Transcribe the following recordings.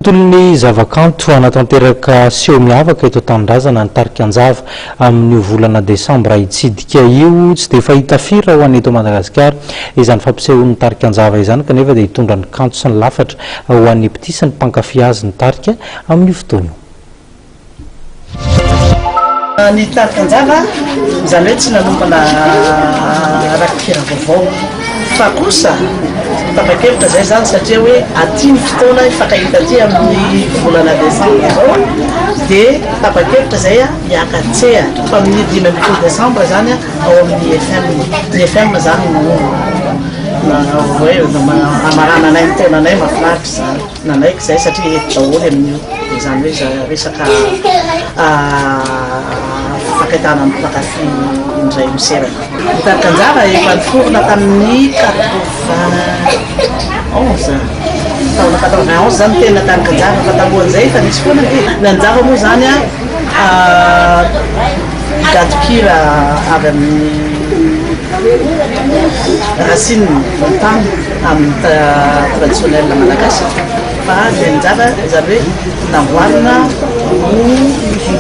Tolon'ny zavakanto hanatanteraka seho miavaka eto an-tanindrazana ny tarika Njava amin'io volana desambra hitsidika io. Tsy dia fahita firy raha ho an'ny eto Madagasikara izany fampisehoan'ny tarika Njava izany kanefa dia hitondra ny kanto sy ny lafatra ho an'ny mpitia sy ny mpankafy azy ny tarika amin'io fotoana io. Nitarika anjara, izany hoe tsy nanomana rakikira vaovao. Fa kosa, tapa-kevitra izay izany satria hoe aty ny fotoana hifankahita aty amin'ny volana desambra izao dia tapa-kevitra izay hiaka an-tsehatra fa amin'ny dimy ambin'ny folo desambra izany ao amin'ny IFM. Ny IFM izany no hoe hamarana anay ny taonanay, mahafinaritra izany. Nanaiky izay satria eto daholo ianao io, dia izany hoe za resaka fakaitana ny mpankafy indray miserana. Nitarika anjara efa niforona tamin'ny 91, taona 91 zany tena nitarika anjara fa talohan'izay efa nisy foana ity. Ny anjara moa izany gadon-kira avy amin'ny racine, ny tany. amin'ny traditionnel malagasy fa ny anjara ry zareo hoe namboarina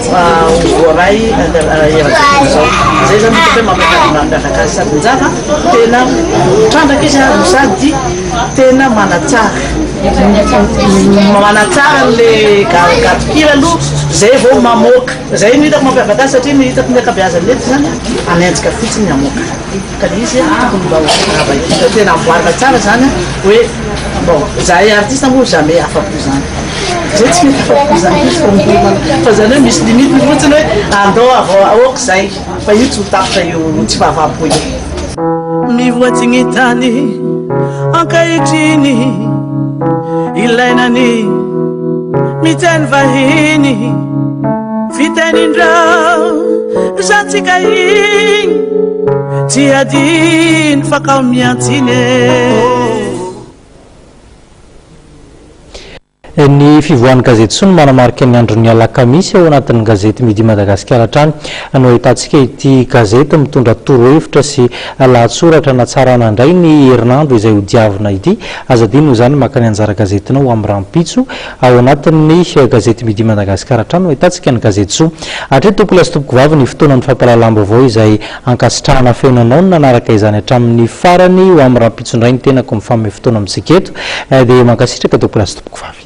ho voaray eran-tany izao. Izay izany hitako hoe mampiavaka mampiavaka azy sady njara tena mitrandraka izy no sady tena manatsara manatsara le gadon-kira aloha izay vao mamoaka. Izay no hitako mampiavaka azy satria ny hitako ny ankabeazan'ny mety izany hanenjika fotsiny hamoaka. Ka ny izy tokony mba ho zava indrindra tena amboarina tsara zany an, hoe bon zahay artiste moa jamais afapo zany, zay tsy mety afapo zany mihitsy fa miomana, fa zany hoe misy limite ny fotsiny hoe andao avao aoka zay fa io tsy ho tapitra io tsy fahavam-po io. Mivoatsy gny tany ankehitriny ilaina ny mijaly vahiny. Fitenin-dreo zantsika igny tsy adino fa kao miantsiny e. Ny fivoahan'ny gazety soa no manamarika ny andron'ny alakamisy ao anatin'ny gazety Midi Madagasikara hatrany no ahitantsika ity gazety mitondra torohevitra sy lahatsoratra natsarana indray ny herinandro izay hodiavina ity. Aza adino izany maka ny anjara gazetinao amin'ny rahampitso. Ao anatin'ny gazety Midi Madagascar hatrany no ahitantsika ny gazety Zo. Hatreto tompoko lahy sy tompoko vavy ny fotoanan'ny fampahalalam-baovao izay ankasitrahana feno anao ny nanaraka izany hatramin'ny farany ho amin'ny rampitsondray ny tenako mifanome fotoana amintsika eto dia mankasitraka tompoko lahy sy tompoko vavy.